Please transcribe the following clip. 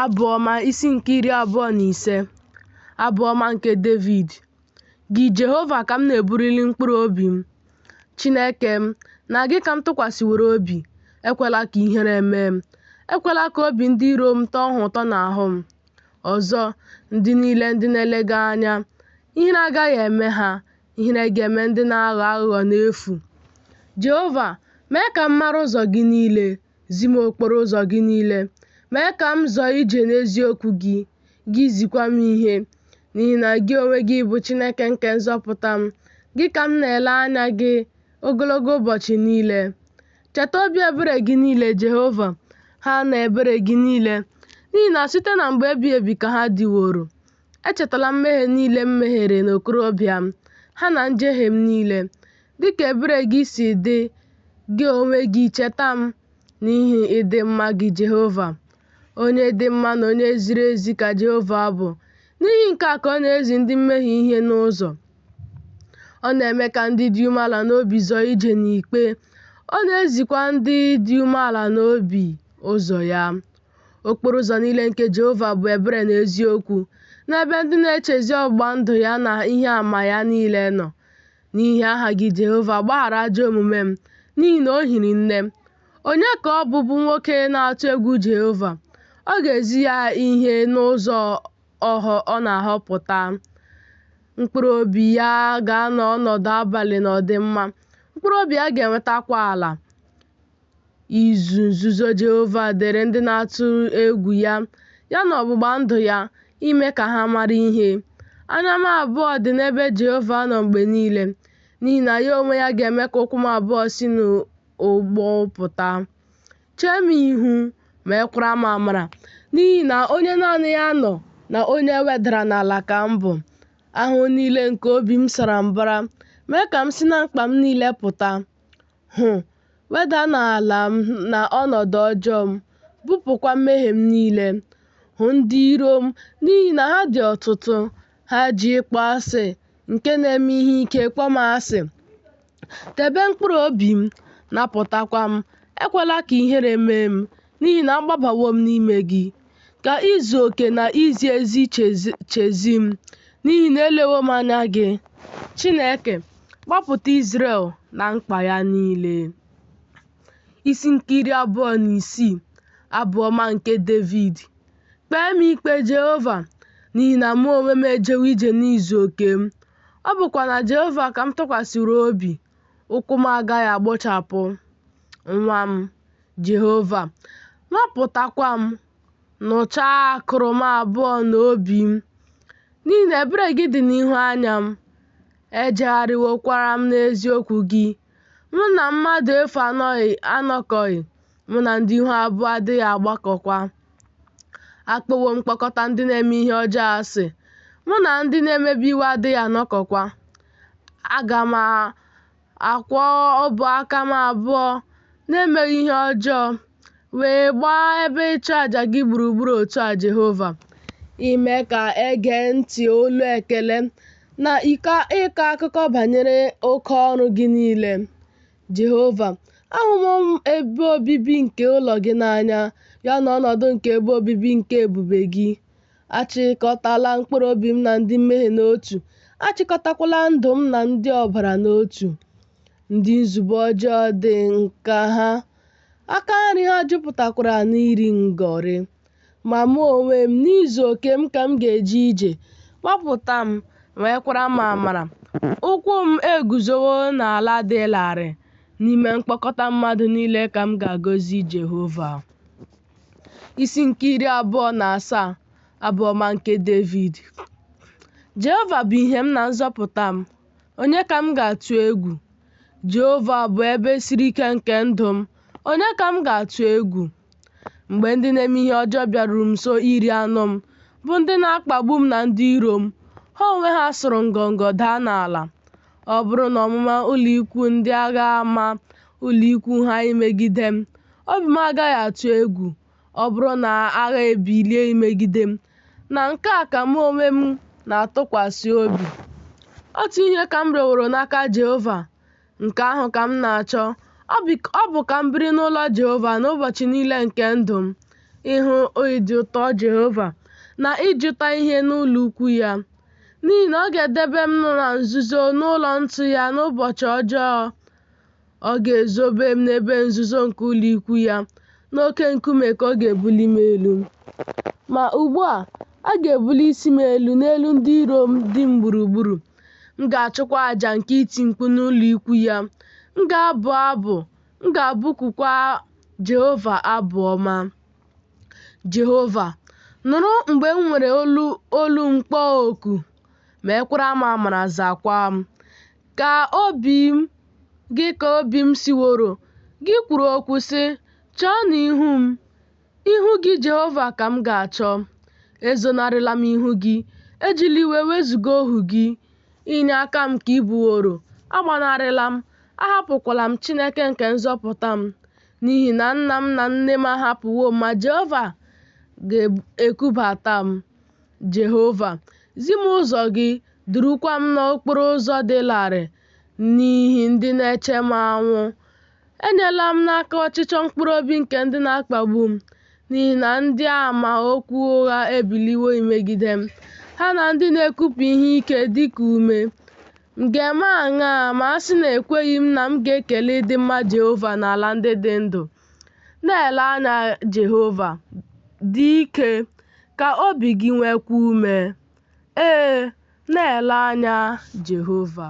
Abụ Ọma isi nke iri abụọ na ise Abụ Ọma nke Devid Gị Jehova ka m na-ebuliri mkpụrụ obi m Chineke m, na gị ka m tụkwasịworo obi ekwela ka ihere mee m ekwela ka obi ndị iro m tọọ ha ụtọ n'ahụ m ọzọ ndị niile ndị na-ele gị anya ihere agaghị eme ha ihere ga-eme ndị na-aghọ aghụghọ n'efu Jehova mee ka m mara ụzọ gị niile Zi m okporo ụzọ gị niile. Mee ka m zọọ ije n'eziokwu gị, gị zikwa m ihe. N'ihi na gị onwe gị bụ Chineke nke nzọpụta m. Gị ka m na-ele anya gị ogologo ụbọchị niile. Cheta obi ebere gị niile, Jehova, ha na ebere gị niile, n'ihi na site na mgbe ebighị ebi ka ha dịworo. Echetala mmehie niile m mehiere n'okorobịa m, ha na njehie m niile. Dị ka ebere gị si dị, gị onwe gị cheta m n'ihi ịdị mma gị, Jehova. Onye dị mma na onye ziri ezi ka Jehova bụ. N'ihi nke a ka ọ na-ezi ndị mmehie ihe n'ụzọ. Ọ na-eme ka ndị dị umeala n'obi zọọ ije n'ikpe, ọ na-ezikwa ndị dị umeala n'obi ụzọ ya. Okporo ụzọ niile nke Jehova bụ ebere na eziokwu, n'ebe ndị na-echezi ọgbụgba ndụ ya na ihe ama ya niile nọ. N'ihi aha gị Jehova, gbaghara ajọ omume m, n'ihi na o hiri nne. Onye ka ọ bụ bụ nwoke na-atụ egwu Jehova? Ọ ga-ezi ya ihe n'ụzọ ọ na-ahọpụta. Mkpụrụ obi ya ga-anọ ọnọdụ abalị n'ọdịmma, mkpụrụ obi ya ga-enwetakwa ala. izu nzuzo Jehova dịrị ndị na-atụ egwu ya, ya na ọgbụgba ndụ ya, ime ka ha mara ihe. Anya m abụọ dị n'ebe Jehova nọ mgbe niile, n'ihi na ya onwe ya ga-eme ka ụkwụ m abụọ si n'ụgbụ pụta. Chee m ihu, meekwara m amara, n'ihi na onye naanị ya nọ na onye e wedara n'ala ka m bụ. Ahụhụ niile nke obi m sara mbara, mee ka m si na mkpa m niile pụta. hụ weda n'ala m na ọnọdụ ọjọọ m, bupụkwa mmehie m niile. Hụ ndị iro m, n'ihi na ha dị ọtụtụ, ha ji ịkpọ asị nke na-eme ihe ike kpọọ m asị. Debe mkpụrụ obi m, napụtakwa m, ekwela ka ihere mee m, n'ihi na agbabawo m n'ime gị ka izu oke na izi ezi chezi m n'ihi na elewo m anya gị chineke gbapụta Izrel na mkpa ya niile isi nke iri abụọ na isii Abụ Ọma nke Devid kpee m ikpe Jehova n'ihi na mụ onwe m ejewo ije n'izu oke m ọ bụkwa na Jehova ka m tụkwasịrị obi ụkwụ m agaghị agbọchapụ nwaa m Jehova, nwapụtakwa m, nụchaa akụrụ m abụọ na obi m, n'ihi na ebere gị dị n'ihu anya m, ejegharịwokwara m n'eziokwu gị. Mụ na mmadụ efu anọkọghị, mụ na ndị ihu abụọ adịghị agbakọkwa. Akpọwo m mkpọkọta ndị na-eme ihe ọjọọ asị, mụ na ndị na-emebi iwu adịghị anọkọkwa. Aga m akwọ ọbụ aka m abụọ n'emeghị ihe ọjọọ, wee gbaa ebe ịchụ aja gị gburugburu otu a, Jehova, ime ka e gee ntị olu ekele na ịkọ akụkọ banyere oke ọrụ gị niile. Jehova, ahụwo m ebe obibi nke ụlọ gị n'anya, ya na ọnọdụ nke ebe obibi nke ebube gị. Achịkọtala mkpụrụ obi m na ndị mmehie n'otu, achịkọtakwala ndụ m na ndị ọbara n'otu. Ndị nzube ọjọọ dị n'aka ha, aka nri ha jupụtakwara n'iri ngọrị. Ma mụ onwe m, n'izu oke m ka m ga-eje ije, gbapụta m, nwekwara m amara. Ụkwụ m eguzowo n'ala dị larịị, n'ime mkpọkọta mmadụ niile ka m ga-agọzi Jehova. isi nke iri abụọ na asaa abụ ọma nke Devid Jehova bụ ihe m na nzọpụta m onye ka m ga-atụ egwu Jehova bụ ebe siri ike nke ndụ m onye ka m ga-atụ egwu mgbe ndị na-eme ihe ọjọọ bịaruru m nso iri anụ m bụ ndị na-akpagbu m na ndị iro m ha onwe ha sụrụ ngọngọ daa n'ala Ọ bụrụ na ọmụma ụlọikwu ndị agha ama ụlọikwu ha imegide m, obi m agaghị atụ egwu, ọ bụrụ na agha ebilie imegide m, na nke a ka mụ onwe m na-atụkwasị obi. Otu ihe ka m rịọworo n'aka Jehova, nke ahụ ka m na-achọ, ọ bụ ka m biri n'ụlọ Jehova n'ụbọchị niile nke ndụ m, ịhụ ịdị ụtọ Jehova na ịjụta ihe n'ụlọukwu ya. N'ihi na ọ ga-edebe m na nzuzo n'ụlọ ntụ ya n'ụbọchị ọjọọ. Ọ ga-ezobe m n'ebe nzuzo nke ụlọ ikwu ya, n'oke nkume ka ọ ga-ebuli m elu. Ma ugbu a, a ga-ebuli isi m elu n'elu ndị iro m dị m gburugburu. M ga-achụkwa aja nke iti mkpu n'ụlọ ikwu ya. M ga-abụ abụ, m ga-abụkukwa Jehova abụ ọma. Jehova, nụrụ mgbe m were olu olu m kpọọ oku, mekwara m amara zakwa m. Ka obi m gị ka obi m sịworo, gị kwuru okwu sị, Chọọnụ ihu m. Ihu gị, Jehova, ka m ga-achọ. Ezonarịla m ihu gị, ejila iwe wezụga ohu gị. Inye aka m ka ị bụworo, agbanarịla m, ahapụkwala m, Chineke nke nzọpụta m. N'ihi na nna m na nne m ahapụwo m, ma Jehova ga-ekubata m. Jehova, zi m ụzọ gị, durukwa m n'okporo ụzọ dị larịị n'ihi ndị na-eche m anwụ. Enyela m n'aka ọchịchọ mkpụrụ obi nke ndị na-akpagbu m, n'ihi na ndị ama okwu ụgha ebiliwo imegide m, ha na ndị na-ekupụ ihe ike dị ka ume. M ga-eme aṅaa ma a sị na ekweghị m na m ga-ekele ịdị mma Jehova n'ala ndị dị ndụ? Na-ele anya Jehova, dị ike, ka obi gị nweekwa ume. Ee, na-ele anya Jehova.